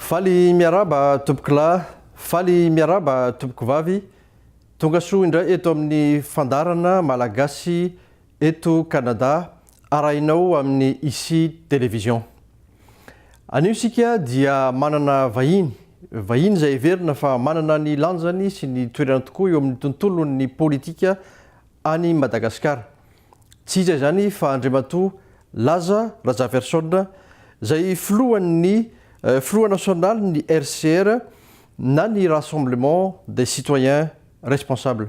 Faly miarahaba tompokolahy Faly miarahaba tompoko vavy. Tonga soa indray eto amin'ny fandaharana Malagasy eto Canada arahinao amin'ny Ici Télévision. Anio isika dia manana vahiny, vahiny izay heverina fa manana ny lanjany sy ny toerany tokoa eo amin'ny tontolon'ny politika any Madagasikara. Tsy iza izany fa Andriamatoa Laza Razafiarison, izay filohan'ny filoha nasionalin'ny RCR na ny Rassemblement des Citoyens Responsables.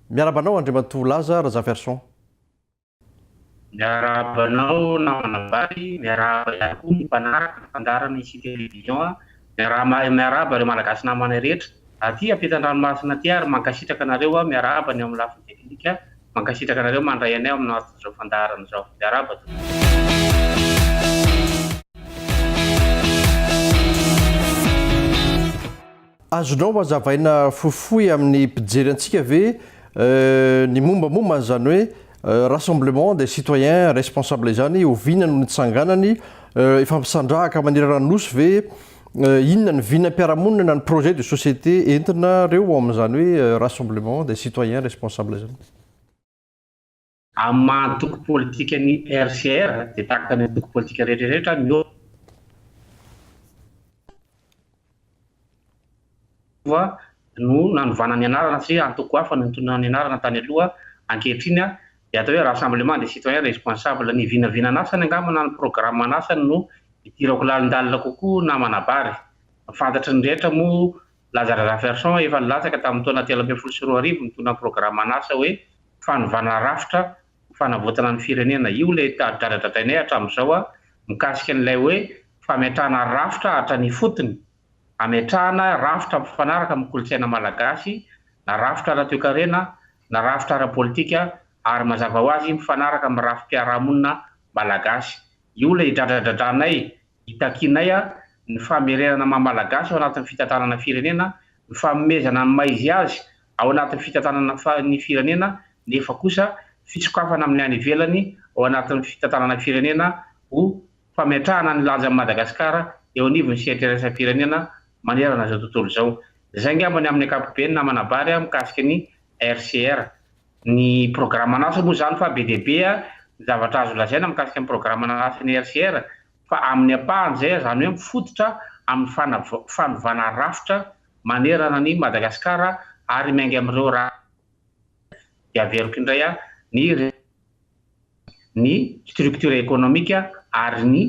Miarahaba anao Andriamatoa Laza Razafiarison. Miarahaba anao namana Vary, miarahaba ihany koa ny mpanaraka ny fandaharana ici television a, miarahaba miarahaba ireo malagasy namanay rehetra aty ampitandranomasina aty ary mankasitraka anareo a, miarahaba ny amin'ny lafiny technique a, mankasitraka anareo mandray anay amin'ny aton'izao fandaharana izao, miarahaba tompoko. Azonao azavaina fohifohy amin'ny mpijery antsika ve ny mombamomba an'izany hoe Rassemblement des citoyens responsables izany? Oviana no nitsanganany? Efa misandrahaka manerana ny Nosy ve? Inona ny vinam-piarahamonina na ny projet de société entinareo ao amin'izany hoe Rassemblement des citoyens responsables izany? Amin'ny maha antoko politika ny RCR dia tahaka ny antoko politika rehetra rehetra miova no nanovana ny anarana satria antoko hafa no nitondra ny anarana tany aloha, ankehitriny dia atao hoe Rassemblement des Citoyens Responsables. Ny vinavinan'asany angamba na ny programan'asany no idirako lalindalina kokoa na manabary. Fantatry ny rehetra moa Lazare Raferson efa nilatsaka tamin'ny taona telo ambin'ny folo sy roa arivo nitondra ny programan'asa hoe Fanovana Rafitra ho Fanavotana ny Firenena. Io ilay dradradradrainay hatramin'izao mikasika an'ilay hoe fametrahana rafitra hatrany ifotony, hametrahana rafitra mifanaraka amin'ny kolontsaina malagasy na rafitra ara-toekarena na rafitra ara-politika ary mazava ho azy mifanaraka amin'ny rafi-piarahamonina malagasy. Io ilay dradradradranay Itakianay ny famerenana ny maha-malagasy ao anatin'ny fitantanana ny firenena, ny fanomezana ny maha izy azy ao anatin'ny fitantanana ny firenena nefa kosa fisokafana amin'ny any ivelany ao anatin'ny fitantanana ny firenena ho fametrahana ny lanjan'i Madagasikara eo anivon'ny sehatra iraisam-pirenena manerana izao tontolo izao. Izay angamba ny amin'ny ankapobeny namanabary mikasika ny RCR. ny programan'asa moa izany fa be dia be ny zavatra azo lazaina mikasika ny programan'asan'ny RCR fa amin'ny ampahany izay izany hoe mifototra amin'ny fanovana rafitra manerana an'i Madagasikara ary miainga amin'ireo raha dia averiko indray aho ny ny structure économique ary ny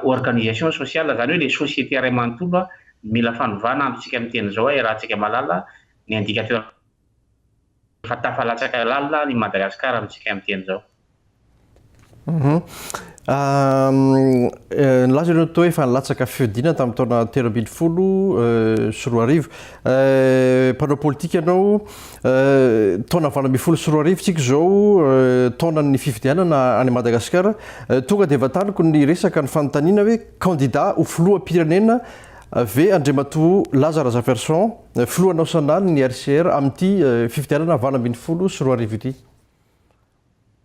organisation sociale izany hoe ilay société iray manontolo mila fanovana antsointsika amin'ny teny izao hoe raha antsika malala ny indicateur Efa tafalatsaka lalina ny Madagascar amintsika amin'iteny zao. Nilaza ianao teo hoe efa nilatsaka fihodinana tamin'ny taona telo ambin'ny folo sy roa arivo. Mpanao politika ianao, taona valo ambin'ny folo sy roa arivo tsika izao, taonan'ny fifidianana any Madagasikara. Tonga dia vantaniko ny resaka, ny fanontaniana hoe kandida ho filoham-pirenena Ve Andriamatoa Laza Razafiarison, Filoha Naosionaly ny RCR amin'ity fifidianana valo ambin'ny folo sy roa arivo ity?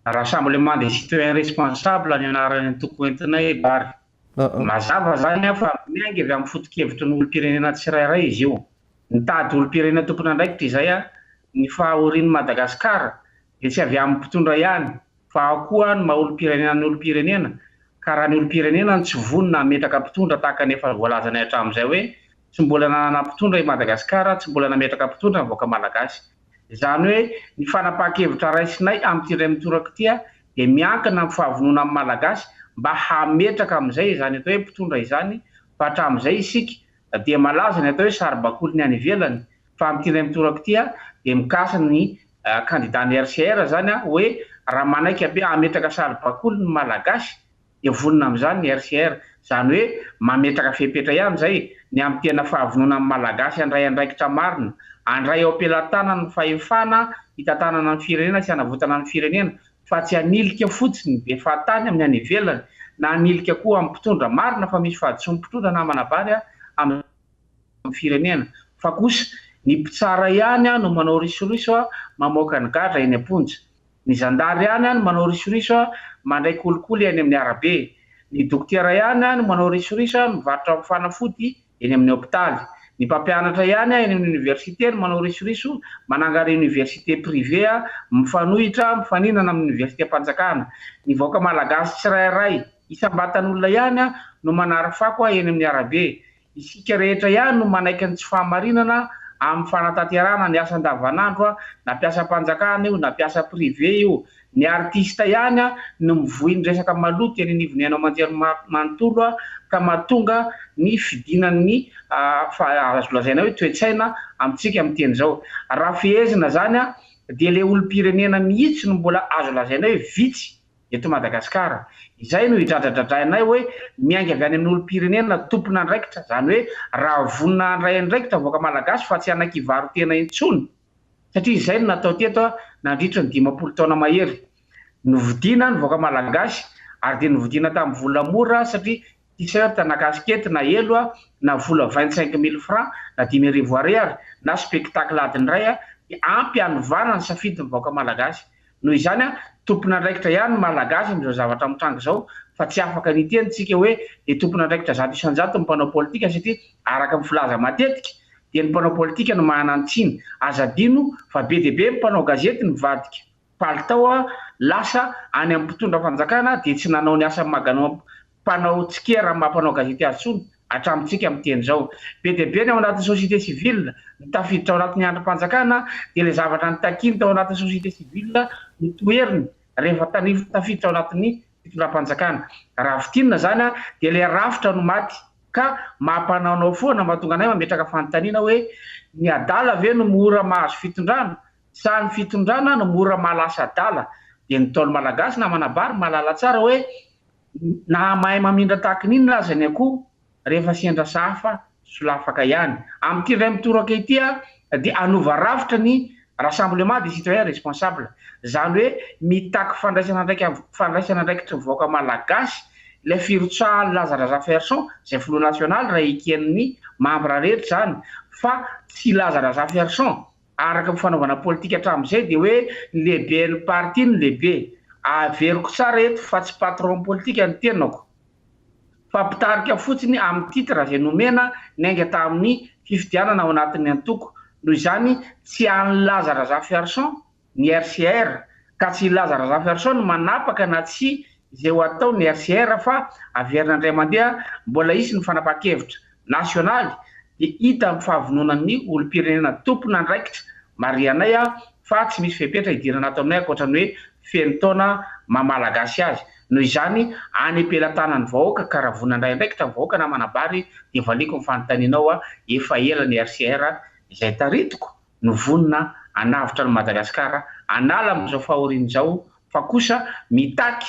Rassemblement des Citoyens Responsables ny anaran'ny toko entinay Bary. Mazava izany fa miainga avy amin'ny foto-kevitry ny olom-pirenena tsirairay izy io. Nitady olom-pirenena tompon'andraikitra izahay ny fahahorian'i Madagasikara dia tsy avy amin'ny mpitondra ihany fa ao koa ny maha olom-pirenena ny olom-pirenena ka raha ny olom-pirenena no tsy vonona hametraka mpitondra tahaka ny efa voalazanay hatramin'izay hoe tsy mbola nanana mpitondra i Madagasikara tsy mbola nametraka mpitondra ny vahoaka malagasy izany hoe ny fanapahan-kevitra raisinay amin'ity indray mitoraka ity dia miankina amin'ny fahavononan'ny malagasy mba hametraka amin'izay izany atao hoe mpitondra izany fa hatramin'izay isika dia malaza ny atao hoe saribakoly ny any ivelany fa amin'ity indray mitoraka ity dia mikasa ny kandida ny RCR zany hoe raha manaiky ampi hametraka saribakoly ny malagasy dia vonona amin'izany ny RCR. Zany hoe mametraka fepetra ihany zay ny amin'ny tena fahavononan'ny malagasy handray andraikitra marina, handray ao am-pelantanany ny fahefana hitantanana ny firenena sy hanavotana ny firenena fa tsy hanilika fotsiny ny be fahatany amin'ny any ivelany na hanilika koa amin'ny mpitondra marina fa misy fahadisoan'ny mpitondra na manabary amin'ny ny firenena fa kosa ny mpitsara ihany no manao risoriso mamoaka ny gadra eny am-ponja, ny zandary ihany no manao risoriso mandray kolikoly eny amin'ny arabe, ny dokotera ihany no manao risoriso mivarotra fanafody eny amin'ny hopitaly, ny mpampianatra ihany eny amin'ny oniversite no manao risoriso manangary oniversite prive mifanohitra mifaninana amin'ny oniversitem-panjakana, ny vahoaka malagasy tsirairay isam-batan'olona ihany no manary fako eny amin'ny arabe. Isika rehetra ihany no manaiky ny tsy fahamarinana amin'ny fanatanterahana ny asa andavanandro na mpiasam-panjakana io na mpiasa privé io. Ny artista ihany no mivoy ny resaka maloto eny anivon'ny haino aman-jery manontolo ka mahatonga ny fidinan'ny azo lazaina hoe toe-tsaina amintsika amin'ny teny izao. Raha fehezina izany dia ilay olom-pirenena mihitsy no mbola azo lazaina hoe vitsy. eto Madagasikara. Izay no idradradradrainay hoe miainga avy any amin'ny olom-pirenena tompon'andraikitra, izany hoe raha vonona handray andraikitra vahoaka malagasy fa tsy hanakivaro tena intsony, satria izay no natao teto nandritry ny dimampolo taona mahery. Novidiana ny vahoaka malagasy ary dia novidiana tamin'ny vola mora satria t-shirt na casquette na elo a, na vola vingt cinq mille franc na dimy arivo Ariary na spectacle adiny iray a, dia ampy hanovana ny safidy ny vahoaka Malagasy. Noho izany a, tompon'andraikitra ihany ny Malagasy amin'izao zavatra mitranga izao fa tsy afaka ny hiteny tsika hoe dia tompon'andraikitra zato isan-jato ny mpanao politika satria araka ny filaza matetika dia ny mpanao politika no manana ny tsiny. Aza adino fa be dia be ny mpanao gazety mivadika. palitao lasa any amin'ny mpitondra fanjakana dia tsy nanao ny asany maganao mpanao tsikera maha mpanao gazety azy intsony hatramintsika miteny izao. Be dia be ny ao anatin'ny société civile no tafiditra ao anatin'ny andrim-panjakana dia ilay zavatra nitakiany tao anatin'ny société civile no toheriny rehefa tafiditra ao anatin'ny fitondram-panjakana. Raha fintinina izany dia ilay rafitra no maty ka mampanaonao foana mahatonga anay mametraka fanontaniana hoe ny adala ve no mora mahazo fitondrana Sahy ny fitondrana no mora mahalasa adala, dia ny Ntaolo Malagasy namana bary mahalala tsara hoe na mahay mamindra tahaky ny inona aza ny akoho, rehefa sendra sahafa, solafaka ihany. Amin'ity indray mitoraka ity aho dia hanova rafitra ny Rassemblement des Citoyens Responsables, izany hoe mitaky fandraisana andraika fandraisana andraikitry ny vahoaka Malagasy, ilay firotsahan'i Laza Razafiarison, izay filoha nasionaly, raha eken'ny mambra rehetra izany, fa tsy Laza Razafiarison. Araka ny fanaovana politika hatramin'izay dia hoe ny lehiben'ny parti no lehibe. Averiko tsara eto fa tsy patron politika ny tenako fa mpitarika fotsiny amin'ny titre izay nomena niainga tamin'ny fifidianana ao anatin'ny antoko. Noho izany tsy an'i Laza Razafiarison ny RCR ka tsy i Laza Razafiarison no manapaka na tsia izay ho atao ny RCR fa averina indray mandeha mbola hisy ny fanapahan-kevitra. nasionaly dia hita amin'ny fahavononan'ny olom-pirenena tompon'andraikitra marihanay aho fa tsy misy fepetra hidirana ato aminay ankoatra ny hoe feno taona maha Malagasy azy. Noho izany, any am-pelatanan'ny vahoaka ka raha vonona handray andraikitra ny vahoaka na manambary dia valiako ny fanontanianao aho, efa ela ny RCR izay taritiko no vonona hanavotra an'i Madagasikara hanala amin'izao fahoriany izao fa kosa mitaky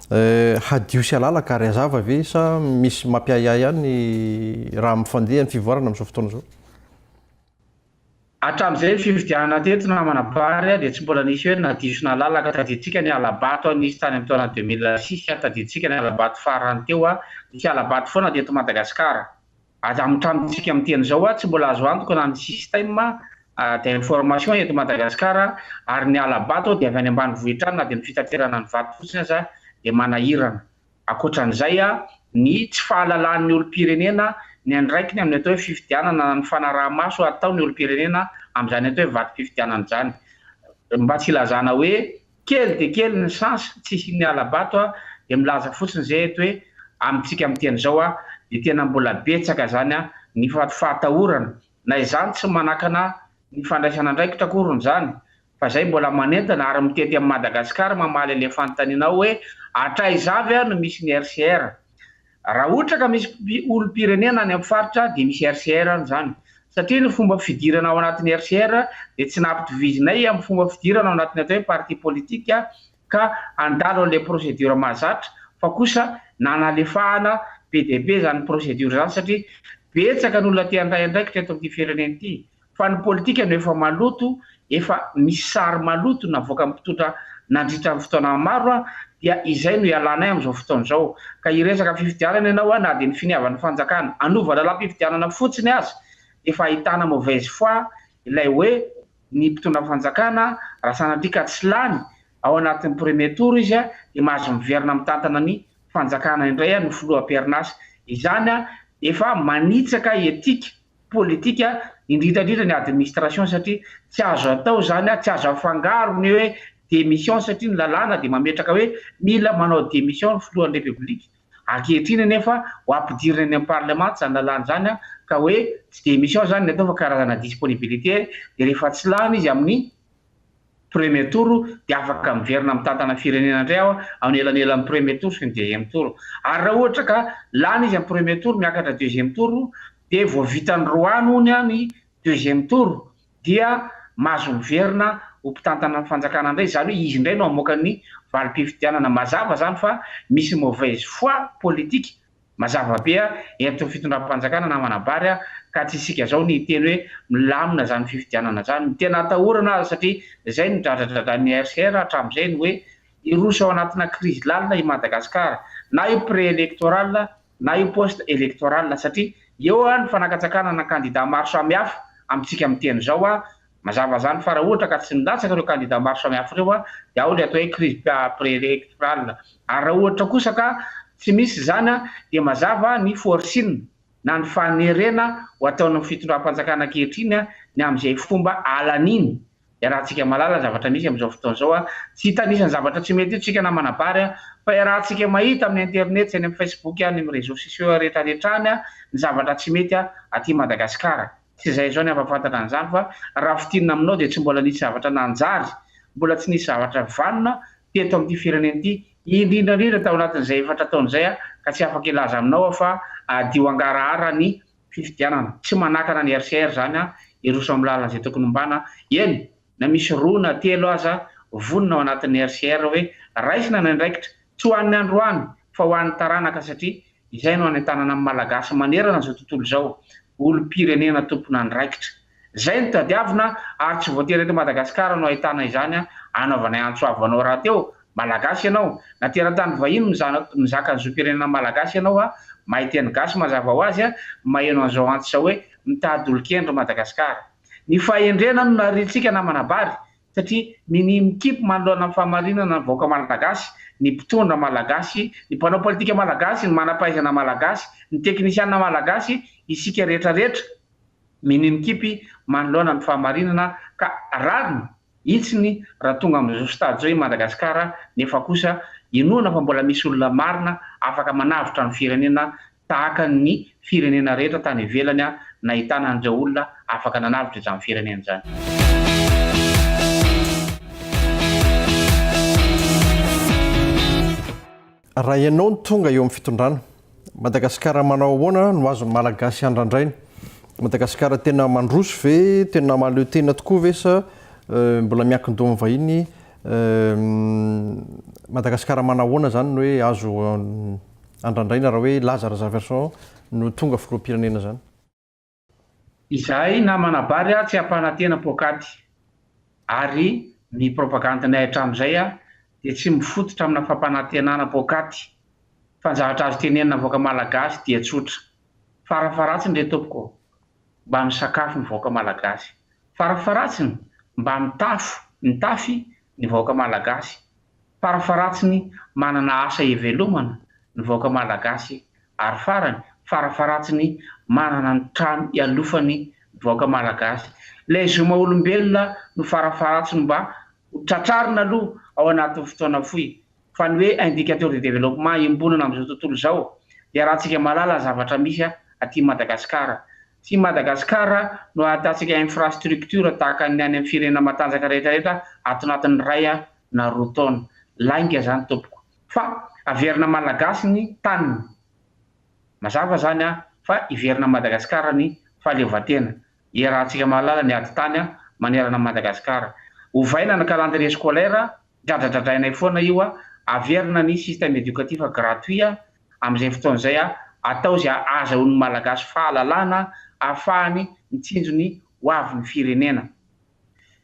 Eh, hadio sy halalaka ary hazava ve sa misy mampiahiahy ihany raha mifandeha ny fivoarana amin'izao fotoana izao? Hatramin'izay fifidianana teto namana Bary dia tsy mbola nisy hoe nadio sy nalalaka, tadidintsika ny halabato nisy tany amin'ny taona deux mille six, tadidintsika ny halabato farany teo, nisy halabato foana teto Madagasikara. Aza mitranotsika amin'ny teny izao aho, tsy mbola azo antoka na ny système d'information eto Madagasikara ary ny hala-bato aho dia avy any ambanivohitra any na dia ny fitaterana ny vato fotsiny aza dia manahirana. Ankoatran'izay, ny tsy fahalalahan'ny olom-pirenena ny andraikiny amin'ny atao hoe fifidianana na ny fanaraha-maso ataon'ny olom-pirenena amin'izany atao hoe vatom-pifidianana izany. Mba tsy hilazana hoe. Kely dia kely ny chance tsy hisian'ny hala-bato a, dia milaza fotsiny izay eto hoe amintsika amin'ity andro izao a, dia tena mbola betsaka izany a, ny fahatahorana, na izany tsy manakana ny fandraisana andraikitra akoriny izany, fa izay mbola manentana ary mitety amin'i Madagasikara mamaly ilay fanontanianao hoe hatraiza avy no misy ny RCR? Raha ohatra ka misy olom-pirenena any amin'ny faritra dia misy RCR any izany. Satria ny fomba fidirana ao anatin'ny RCR dia tsy nampitovizinay amin'ny fomba fidirana ao anatin'ny atao hoe parti politique ka handalo an'ilay procédure mahazatra fa kosa nanalefahana be dia be izany procédure izany satria betsaka ny olona te-handray andraikitra eto amin'ity firenena ity fa ny politika no efa maloto, efa misy sary maloto navoakan'ny mpitondra nandritra ny fotoana maro dia izay no ialanay amin'izao fotoana izao. Ka hiresaka fifidianana ianao na dia ny finiavan'ny fanjakana hanova lalam-pifidianana fotsiny aza dia efa ahitana mauvaise foi ilay hoe ny mpitondra fanjakana raha sanatria ka tsy lany ao anatin'ny premier tour izy dia mahazo miverina mitantana ny fanjakana indray ny filoha am-perinasa. Izany dia efa manitsaka etika. politika indrindra indrindra ny administration satria tsy azo atao zany tsy azo afangaro ny hoe démission satria ny lalàna dia mametraka hoe mila manao démission ny filohan'ny repoblika ankehitriny anefa ho ampidirina any amin'ny parlement zany lalàna zany ka hoe tsy démission zany ny atao fa karazana disponibilité dia rehefa tsy lany izy amin'ny premier tour dia afaka miverina mitantana ny firenena indray aho amin'ny elanelan'ny premier tour sy ny deuxième tour. Ary raha ohatra ka lany izy amin'ny premier tour miakatra deuxième tour dia vao vitan'ny roa any hono ny deuxième tour dia mahazo miverina ho mpitantana ny fanjakana indray, izany hoe izy indray no hamoaka ny valim-pifidianana. Mazava izany fa misy mauvaise foi politique. Mazava be eto fitondram-panjakana namana Bary ka tsy isika zao ny hiteny hoe milamina zany fifidianana zany. Ny tena atahorana aza satria zay no dradradradrain'ny RCR hatramizay ny hoe hiroso ao anatina crise lalina i Madagascar na io pré-electoral na io post-electoral satria eo ny fanakatsakana na candidat maro samihafa amintsika miteny zao Mazava izany fa raha ohatra ka tsy nilatsaka ireo kandida maro samihafa ireo dia ao ilay atao hoe crise préélectorale. Ary raha ohatra kosa ka tsy misy izany dia mazava ny forcing na ny fanerena ho ataon'ny fitondram-panjakana ankehitriny ny amin'izay fomba alaniny. Iarahantsika mahalala ny zavatra misy amin'izao fotoana izao. Tsy hita anisan'ny zavatra tsy mety io tsika na manabary fa iarahantsika mahita amin'ny internet sy any amin'ny facebook, ny réseaux sociaux rehetrarehetra any ny zavatra tsy mety aty Madagasikara. Tsy izay izao ny ampahafantatra an'izany fa raha fintinina aminao dia tsy mbola nisy zavatra nanjary, mbola tsy nisy zavatra vanona teto amin'ity firenena ity, indrindra indrindra tao anatin'izay efatra taona izay ka tsy afaka hilaza aminao aho fa hadio hangarahara ny fifidianana. Tsy manakana ny RCR izany hiroso amin'ny lalan'izay tokony hombana, eny, na misy roa na telo aza vonona ao anatin'ny RCR hoe raisina ny andraikitra, tsy ho an'ny androany fa ho an'ny taranaka satria izay no hanentanana ny Malagasy manerana izao tontolo izao, olom-pirenena tompon'andraikitra. Izay no tadiavina ary tsy voatery eto Madagasikara no ahitana izany anaovanay antso avo anao rahateo, Malagasy ianao, na teratany vahiny mizana mizaka ny zom-pirenena Malagasy ianao a, mahay teny gasy mazava ho azy a, maheno an'izao antso izao hoe mitady olon-kendry Madagasikara. Ny fahendrena no nariantsika namana Bary satria minia mikipy manoloana ny fahamarinana ny vahoaka malagasy, ny mpitondra malagasy, ny mpanao politika malagasy, ny manampahaizana malagasy, ny teknisianina malagasy, isika rehetra rehetra minia mikipy manoloana ny fahamarinana ka rariny hitsiny raha tonga amin'izao stade izao i Madagasikara nefa kosa inoana fa mbola misy olona marina afaka manavotra ny firenena tahaka ny firenena rehetra tany ivelany nahitana an'ireo olona afaka nanavotra izany firenena izany. Raha ianao no tonga eo amin'ny fitondrana, Madagasikara manao ahoana no azon'ny Malagasy andrandraina? Madagasikara tena mandroso ve, tena mahaleo tena tokoa ve sa mbola miankin-doha amin'ny vahiny? Madagasikara manao ahoana izany no hoe azo andrandraina raha hoe Lazare Zaverson no tonga filoham-pirenena izany? Izahay namana Bary a tsy hampanantena poakaty ary ny propagandinay hatramin'izay a dia tsy mifototra amina fampanantenana poakaty fa ny zavatra azo tenenina vahoaka malagasy dia tsotra farafaratsiny re tompoko mba misakafo ny vahoaka malagasy farafaratsiny mba mitafo mitafy ny vahoaka malagasy Farafaratsiny manana asa ivelomana ny vahoaka Malagasy ary farany farafaratsiny manana ny trano ialofany ny vahoaka Malagasy. Ilay zo maha olombelona no farafaratsiny mba ho tratrarina aloha ao anatin'ny fotoana fohy fa ny hoe indicateur de développement iombonana amin'izao tontolo izao dia raha tsika mahalala ny zavatra misy aty Madagasikara Tsy Madagascar no ahitantsika infrastructure tahaka ny any amin'ny firenena matanjaka rehetra rehetra ato anatin'ny iray na roa taona. Lainga izany tompoko. Fa averina Malagasy ny taniny. Mazava izany fa hiverina Madagascar ny fahaleovantena. Iarahantsika mahalala ny ady tany manerana an'i Madagascar. Ovaina ny calendrier scolaire, dradradradrainay foana io, averina ny système éducatif gratuit, amin'izay fotoana izay a, atao izay ahazahoan'ny Malagasy fahalalana ahafahany mitsinjo ny ho avin'ny firenena.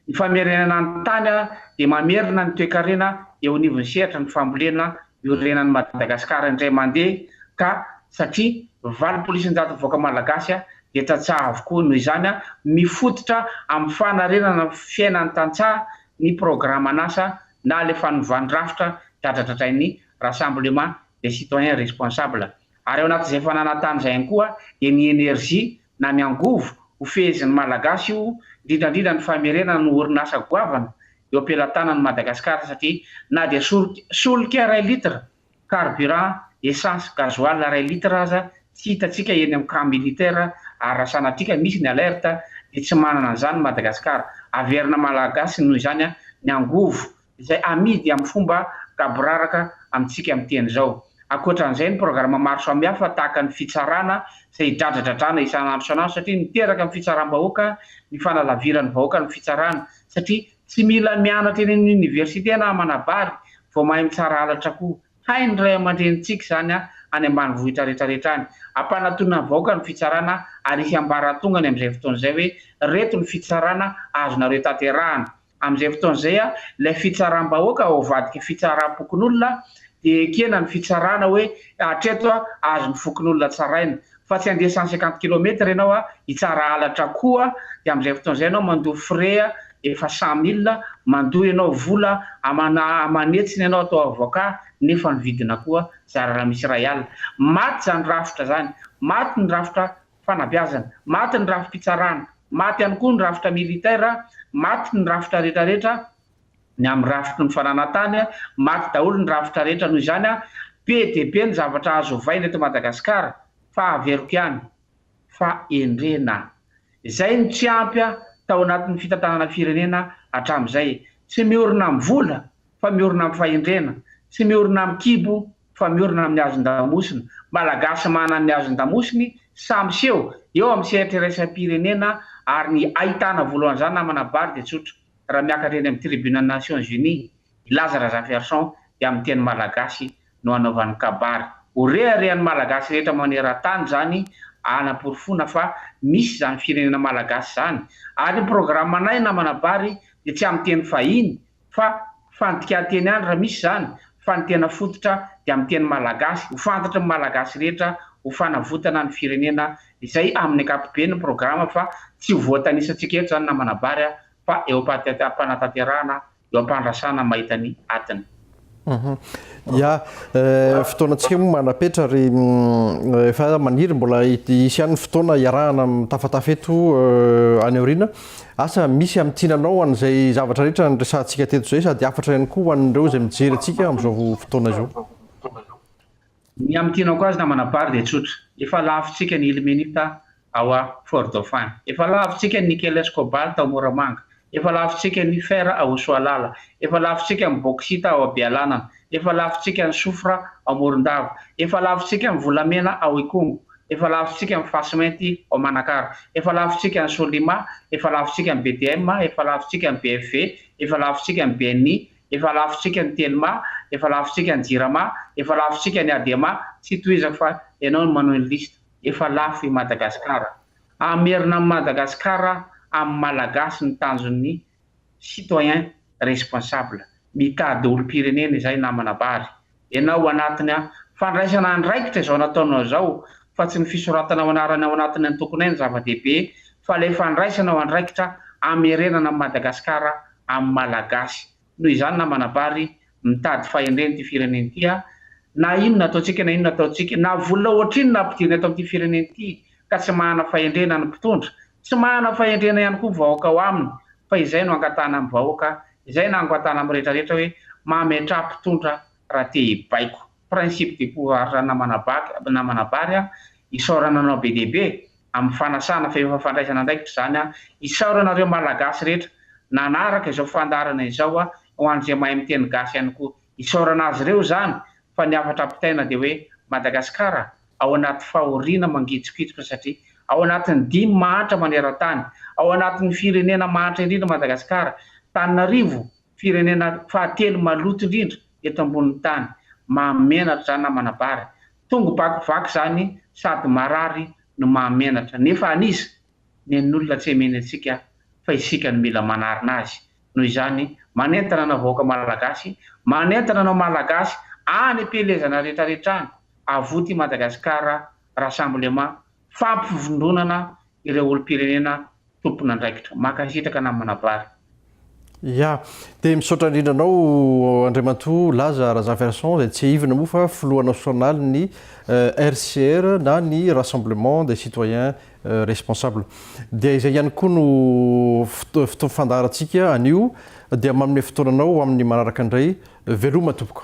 Ny famerenana ny tany a dia mamerina ny toekarena eo anivon'ny sehatra ny fambolena iorenan'i Madagasikara indray mandeha ka satria valopolo isanjaton'ny vahoaka Malagasy a dia tantsaha avokoa noho izany a mifototra amin'ny fanarenana ny fiainan'ny tantsaha ny programan'asa na ilay fanovàny rafitra dradradradrain'ny Rassemblement des citoyens responsables, ary ao anatin'izay fananantany izay ihany koa dia ny energie na ny angovo ho fehezin'ny Malagasy io indrindra indrindra ny famerenana ny orinasa goavana eo am-pelatanan'i Madagasikara satria na dia solika iray litre carburant essence gasoil iray litre aza tsy hitantsika eny amin'ny camp militaire ary raha sanatria misy ny alerte dia tsy manana an'izany Madagasikara, averina Malagasy noho izany ny angovo izay amidy amin'ny fomba gaboraraka amintsika miteny izao. Ankoatra an'izay, ny programa maro samihafa tahaka ny fitsarana izay hidradradradrana isan'andro isan'andro satria miteraka amin'ny fitsaram-bahoaka ny fanalaviran'ny vahoaka ny fitsarana satria tsy mila mianatra eny amin'ny oniversite na manabary vao mahay mitsara halatra koa hain'ny ray aman-drenintsika izany any ambanivohitra retraretra any. Ampanatonina ny vahoaka ny fitsarana ary hihambaratongany amin'izay fotoana izay hoe reto ny fitsarana azonareo tanterahana. Amin'izay fotoana izay, ilay fitsaram-bahoaka ao avadika fitsaram-pokonolona dia ekena ny fitsarana hoe hatreto azon'ny fokonolona tsaraina, fa tsy handeha cent cinquante kilomètre ianao hitsara halatra koa, dia amin'izay fotoana izay ianao mandoa frais efa cent mille, mandoa ianao vola amana aman'hetsiny ianao atao avocat nefa ny vidina koa zara raha misy iray alina. Maty izany rafitra izany, maty ny rafitra fanabeazana, maty ny rafi-pitsarana, maty ihany koa ny rafitra militaire, maty ny rafitra rehetra rehetra ny amin'ny rafitry ny fananantany, maty daholo ny rafitra rehetra noho izany be dia be ny zavatra azo ovaina eto Madagasikara fa averiko ihany fa endrena izay no tsy ampy tao anatin'ny fitantanana firenena hatramin'izay, tsy miorina amin'ny vola fa miorina amin'ny fahendrena, tsy miorina amin'ny kibo fa miorina amin'ny hazon-damosina. Malagasy manana ny hazon-damosiny sahy miseho eo amin'ny sehatra iraisam-pirenena ary ny ahitana voalohan'izany namana bary dia tsotra. Raha miakatra eny amin'ny Tribunes Nations Unies i Laza Razafiarison dia amin'ny teny malagasy no anaovany kabary. Ho reharehan'ny Malagasy rehetra maneran-tany izany hanaporofoana fa misy izany firenena malagasy izany. Ary ny programanay namana bary dia tsy amin'ny teny fahiny fa fandikan-teny ihany raha misy izany fa ny tena fototra dia amin'ny teny malagasy ho fantatry ny malagasy rehetra ho fanavotana ny firenena izay amin'ny ankapobeny ny programa fa tsy ho voatanisantsika eto izany na manabary aho fa eo am-panatanterahana eo am-pandrasana mahita ny atiny. Ia, fotoanantsika moa manapetra ary efa maniry mbola hisy ihany ny fotoana hiarahana mitafatafa eto any aoriana. Asa misy amin'ny tiananao an'izay zavatra rehetra niresahantsika teto izay sady hafatra ihany koa ho an'ireo izay mijery antsika amin'izao fotoana izao? Ny amin'ny tianao koa aza namana Bary dia tsotra. Efa lavintsika ny Ilmenita ao a Fort Dauphin. Efa lavintsika ny nickel sy cobalt ao Moramanga. Efa lavintsika ny fer ao Soalala. Efa lavintsika ny bauxite ao Bealanana. Efa lavintsika ny soufre ao Morondava. Efa lavintsika ny volamena ao Ikongo. Efa lavintsika ny fasimainty ao Manakara. Efa lavintsika ny Solima. Efa lavintsika ny BDM. Efa lavintsika ny BFV. Efa lavintsika ny BNI. Efa lavintsika ny Telma. Efa lavintsika ny Jirama. Efa lavintsika ny Adema. Tsy tohizako fa ianao no manohy ny liste. efa lafo i Madagascar. Hamerina an'i Madagascar amin'ny Malagasy ny tanjon'ny citoyen responsable. Mitady olom-pirenena izay namana bary. Ianao anatiny fandraisana andraikitra izao nataonao izao fa tsy ny fisoratanao anarany ao anatin'ny antokonay no zava-dehibe fa ilay fandraisanao andraikitra hamerenana an'i Madagascar amin'ny Malagasy. Noho izany namana Bary, mitady fahendrena ity firenena ity aho, na inona ataontsika na inona ataontsika, na vola ohatrinona ampidirina eto amin'ity firenena ity ka tsy manana fahendrena ny mpitondra, tsy manana fahendrena ihany koa vahoaka ao aminy, fa izay no angatahana amin'ny vahoaka, izay no angatahana amin'ny rehetra rehetra hoe mametraha mpitondra raha te hibaiko. principe de pouvoir na manabaky na manabary aho, isaorana anao be dia be amin'ny fanasana fa efa fandraisana andraikitra izany aho, isaorana ireo Malagasy rehetra nanaraka izao fandaharana izao aho, ho an'izay mahay miteny gasy ihany koa, isaorana azy ireo izany fa ny hafatra ampitaina dia hoe Madagasikara ao anaty fahoriana mangitsokitsoka satria ao anatin'ny dimy mahantra maneran-tany, ao anatin'ny firenena mahantra indrindra Madagasikara, Tananarivo Firenena fahatelo maloto indrindra eto ambonin'ny tany, mahamenatra zany na manabary. Tongo bakivaky zany sady marary no mahamenatra. Nefa an'iza? Nen'olona tsy emeny antsika fa isika no mila manarina azy. Noho izany, manentana anao vahoaka Malagasy, manentana anao Malagasy any am-pielezana retraretra any, avoty i Madagasikara Rassemblement fampivondronana ireo olom-pirenena tompon'andraikitra. Mankasitraka namana Vary. Ya. Dia misaotra indrindra anao Andriamatoa Laza Razafinson izay tsiahivina moa fa filoha nasionalin'ny RCR na ny Rassemblement des Citoyens Responsables. Dia izay ihany koa no fotoana fandaharantsika anio dia manome fotoananao ho amin'ny manaraka indray. Veloma tompoko.